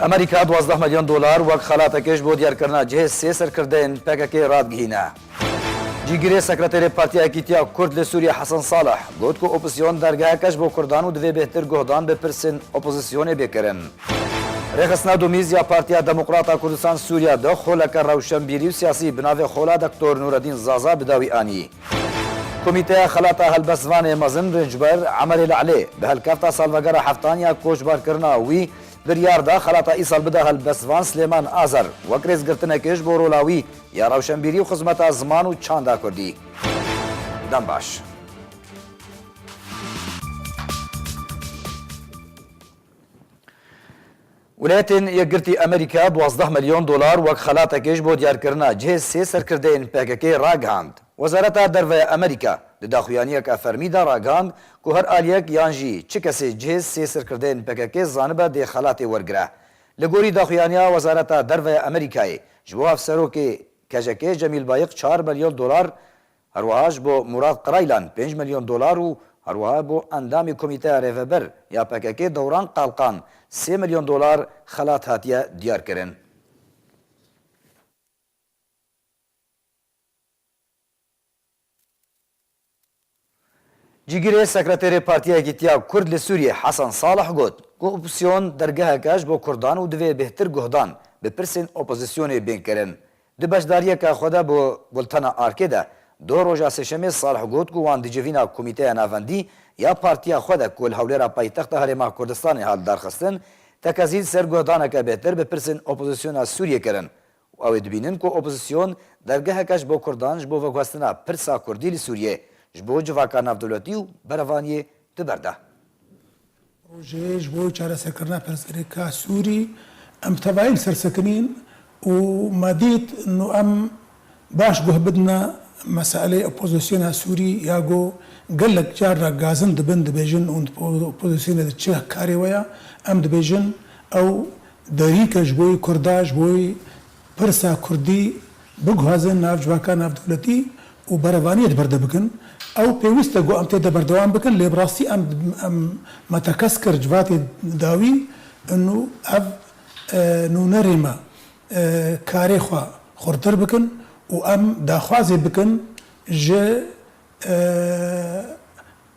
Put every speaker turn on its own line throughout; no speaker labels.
Amerîka duwazdeh milyon dolar wek xelateke ji bo diyarkirina cihê sê serkirdeyên PKK'ê radgihîne. Cîgirê Sekreterê Partiya Yekîtiya Kurd li Sûriyê Hesen Saleh got ku opozîsyon dergeheke ji bo kurdan û divê bêhtir guhdan bi pirsên opozîsyonê bê kirin. Rêxistina Domîz ya Partiya Demokrata Kurdistan Sûriya du xoleke rewşenbîrî û siyasî bi navê Xola Doktor Nuredîn Zaza bi dawî anî. Komîteya Xelata Helbest Vanê Mezin Rêncber Emerê Lelê bi hilkefta salvegera heftan ya koçbarkirina wî biryar da xelata îsal bide helbestvan Silêman Azer wek rêzgirtinekê ji bo rola wî ya rewşenbîrî û xizmeta ziman û çanda kurdî. Dem baş. Welêtên Yekgirtî Amerîka duwazdeh milyon dolar wek xelatekê ji bo diyarkirina cihê sê serkirdeyên PKK'ê ragihand. Wezareta Derveya Amerîka di daxuyaniyeke fermî de ragihand ku her aliyek yan jî çi kesê cihê sê serkirdeyên PKK'ê zanibe dê xelatê wergire. Li gorî daxuyaniya Wezareta Derveya Amerîkayê ji bo Hevserokê KJK'ê Cemîl Bayik çar milyon dolar Herwiha ji bo Murad Qiraylan pênc milyon dolar û herwiha bo endamê komîteya rêveber ya pkk Dewran Qalqan sê milyon dolar xelat hatiye diyarkirin. Cîgirê sekreterê Partiya Yekîtiya Kurd li Sûriyê Hesen Salih got ku opozîsyon dergehek e ji bo kurdan û divê bêhtir guhdan bi pirsên opozîsyonê bên kirin. Di beşdariyeke xwe de bi Bultena Arkê de doh roja sêşemê Salih got ku wan di civîna Komîteya Navendî ya partiya xwe de ku li Hewlêra paytexta Herêma Kurdistanê hat darxistin tekezîn ser guhdaneke bêhtir bi pirsên opozîsyona Sûriyê kirin û ew ê dibînin ku opozîsyon dergeheke ji bo kurdan ji bo veguhestina pirsa kurdî li Sûriyê ji bo civaka navdewletî û berevaniyê di ber de.
Rojê ji bo çareserkirina pirsgirêka Sûrî em bi tevayî li ser sekinî yin û me dît nu em baş guh bidine meseleyê opozisyona Sûrî ya ku gelek car re gazin dibin dibêjin û di opozisyonê de çi karê we ye em dibêjin ew derîk e ji bo kurda ji bo Pirsa Kurdî biguhazin nav civaka navdewletî û berevaniyê di ber de bikin. Ew pêwîst e ku em tê de berdewam bikin lê bi rastî em em me tekez kir civatê dawî in û ev nûnerê me karê xwe xurtir bikin û em daxwazê bikin ji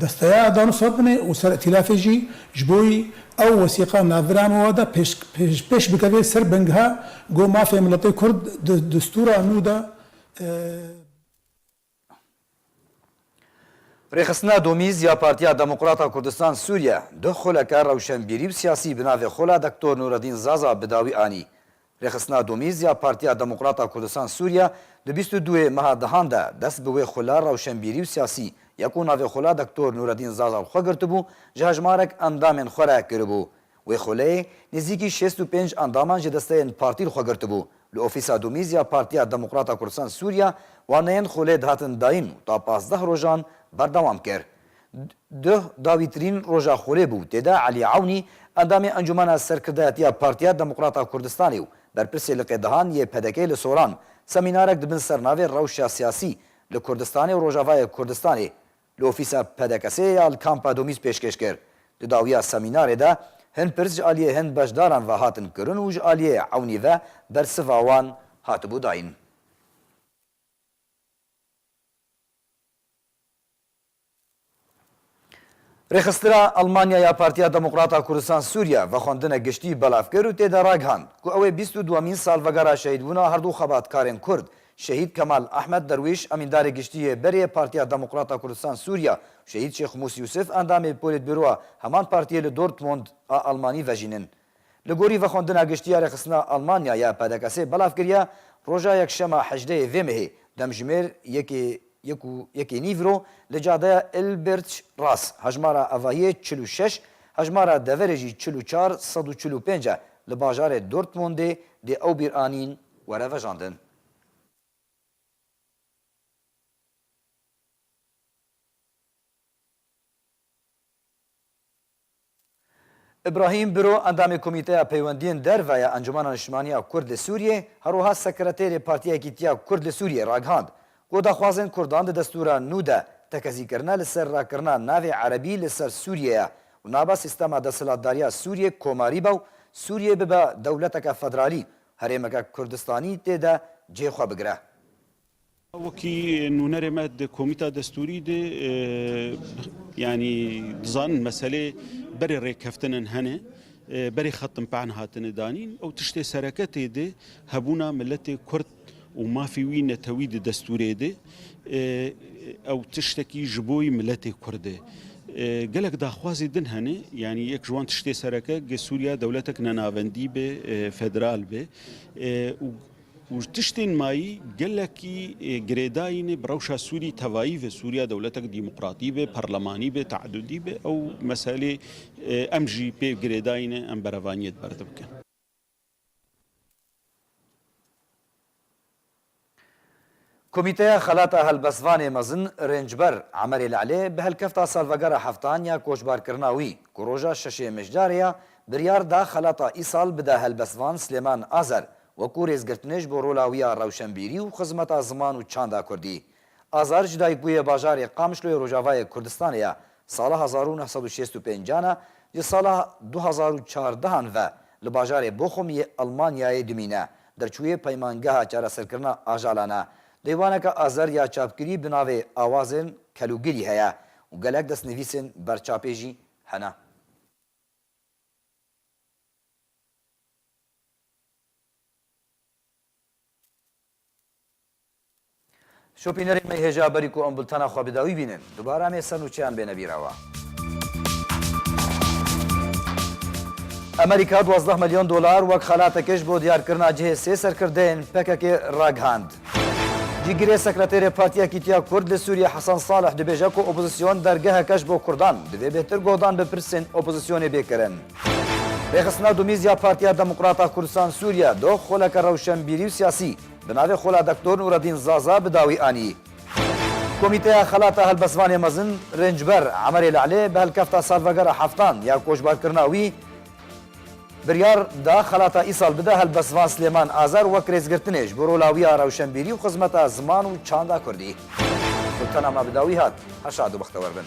Desteya Erdogan û Sobinê û Ser Îtîlafê jî ji bo wî ew wesîqa navbirana wan de pêş bikeve ser bingeha ku mafê miletê kurd di distûra nû de
Rêxistina Domîz ya Partiya Demokrata Kurdistan Sûriye du xuleke rewşenbîrî û siyasî bi navê Xula Doktor Nûredîn Zaza bi dawî anî. Rêxistina Domîz ya Partiya Demokrat a Kurdistan Sûriye di bîst û duê meha dehan de dest bi wê xula rewşenbîrî û siyasî ya ku navê xula Doktor Nûredîn Zazal xwe girtibû ji hejmarek endamên xwe re kiribû. Wê xuleyê nêzîkî şêst û pênc endaman ji desteyên partî li xwe girtibû. Li ofîsa Domîz ya Partiya Demokrat a Kurdistan Sûriye waneyên xulê dihatin dayîn û ta pazdeh rojan berdewam kir. Duh da vîtrîn roja xulê bû tê de Elî Ewnî, endamê Encûmena Serkirdeyetiya Partiya Demokrata Kurdistanê û berpirsê liqêdihan yê PDK'ê li Soran semînarek di bin sernavê Rewşa Siyasî li Kurdistanê û Rojavayê Kurdistanê li ofîsa PDK'sê ya li Kampa Domîz pêşkêş kir. Di dawiya semînarê de hin pirs ji aliyê hin beşdaran ve hatin kirin û ji aliyê Ewnî ve bersiva wan hatibû dayîn. Rêxistina Elmanya ya Partiya Demokrata Kurdistan Sûriye vexwendine giştî belav kir û tê de ragihand ku ew ê bîst û duemîn salvegera şehîdbûna her du xebatkarên Kurd Şehîd Kemal Ehmed Derwîş Emîndarê Giştî yê Berê Partiya Demokrata Kurdistan Sûriye û Şehîd Şêx Mûs Yûsif Endamê Polîtbûroa heman Partiyê li Dortmund a Elmanî vejînin. Li gorî vexwendina giştî ya rêxistina Almanya ya PDKS'ê belav kiriye, roja yekşema hejdeyê vê mehê demjimêr yekê yek û yekê nîv ro li cadeya Ilbertş Ras hejmara evahiyê çil û şeş, hejmara deverê jî çil û çar sed û çil û pênc e li bajarê Dortmundê dê ew bîr anîn were vejandin. Îbrahîm Biro endamê Komîteya Peywendiyên Derve ya Encûmena Niştimaniya Kurd li Sûriyê herwiha sekreterê Partiyekî Tiya Kurd li Sûriyê ragihand ku daxwazên kurdan di destûra nû de tekezîkirine li ser rakirina navê erebî li ser Sûriyê ye û nabe sîstema desthilatdariya Sûriyê komarî be û Sûriyê bibe dewleteke federalî û herêmeke Kurdistanî tê de cê xwe bigire. Wekî
nûnerê me di komîta destûrî de yanî dizanin meselê berê rêkeftinan hene, berê xetim pe'an hatine danîn û tiştê sereketê de hebûna miletê kurd û mafê wî netewî di destûrê de ew tiştekî ji bo yî miletê kurd e. Gelek daxwazê din hene, yanî yek ji wan tiştê sereke ge Sûriya dewletek nenavendî be, federal be û Û ji tiştên mayî gelekî girêdayînê bi rewşa Sûrî tevayî ve. Sûriya dewletek dîmoqratî be, parlemanî be, teedudî be. Ew meselê em jî pê girêdayîne, em berevaniyê di ber de bikin.
Komîteya Xelata Helbestvanê Mezin Rêncber Emerê Lelê bi hilkefta salvegera heftan ya koçbarkirina wî ku roja şeşê Mijdarê ya, biryar da xelata îsal bide helbestvan Silêman Azer wekû rêzgirtinê ji bo rola wî ya rewşenbîrî û xizmeta ziman û çanda kurdî. Azer ji dayikbû yê bajarê Qamişloyê Rojavayê Kurdistanê ye, sala hezar û neh sed û şêst û pênc an e, ji sala du hezar û çardehan ve li bajarê Bochum yê Elmanyayê dimîne Derçûyê Peymangeha Çareserkirina Ajalan e. Dêvaneke Azer ya çapkirî bi navê Awazên Kelûgirî heye û gelek destnivîsên berçapê jî hene. Şopînerê me hêja berî ku em bultena xwe bi dawî bînin, dubare em ê ser nûçeyan bêne bîrawa. Amerîka duwazdeh milyon dolar wek xelateke ji bo diyarkirina cihê sê serkirdeyên PKK'ê ragihand. Cîgirê Sekreterê Partiya Yekîtiya Kurd li Sûriyê Hesen Salih dibêje ku opozîsyon dergeheke ji bo kurdan, divê bêhtir guhdan bi pirsên opozîsyonê bê kirin. Rêxistina Dumîz ya Partiya Demokrata Kurdistan Sûriye doh xoleke rewşenbîrî û siyasî Bi navê Xola Doktor Nûredîn Zaza bi dawî anî. Komîteya Xelata Helbestvanê Mezin Rêncber Emerê Lelê bi hilkefta salvegera heftan ya koçbarkirina wî biryar da xelata îsal bide Helbestvan Silêman Azer wek rêzgirtinê ji bo rola wî ya rewşenbîrî û xizmeta ziman û çanda kurdî. Sultana me bi dawî hat. Her şad û bextewer bin.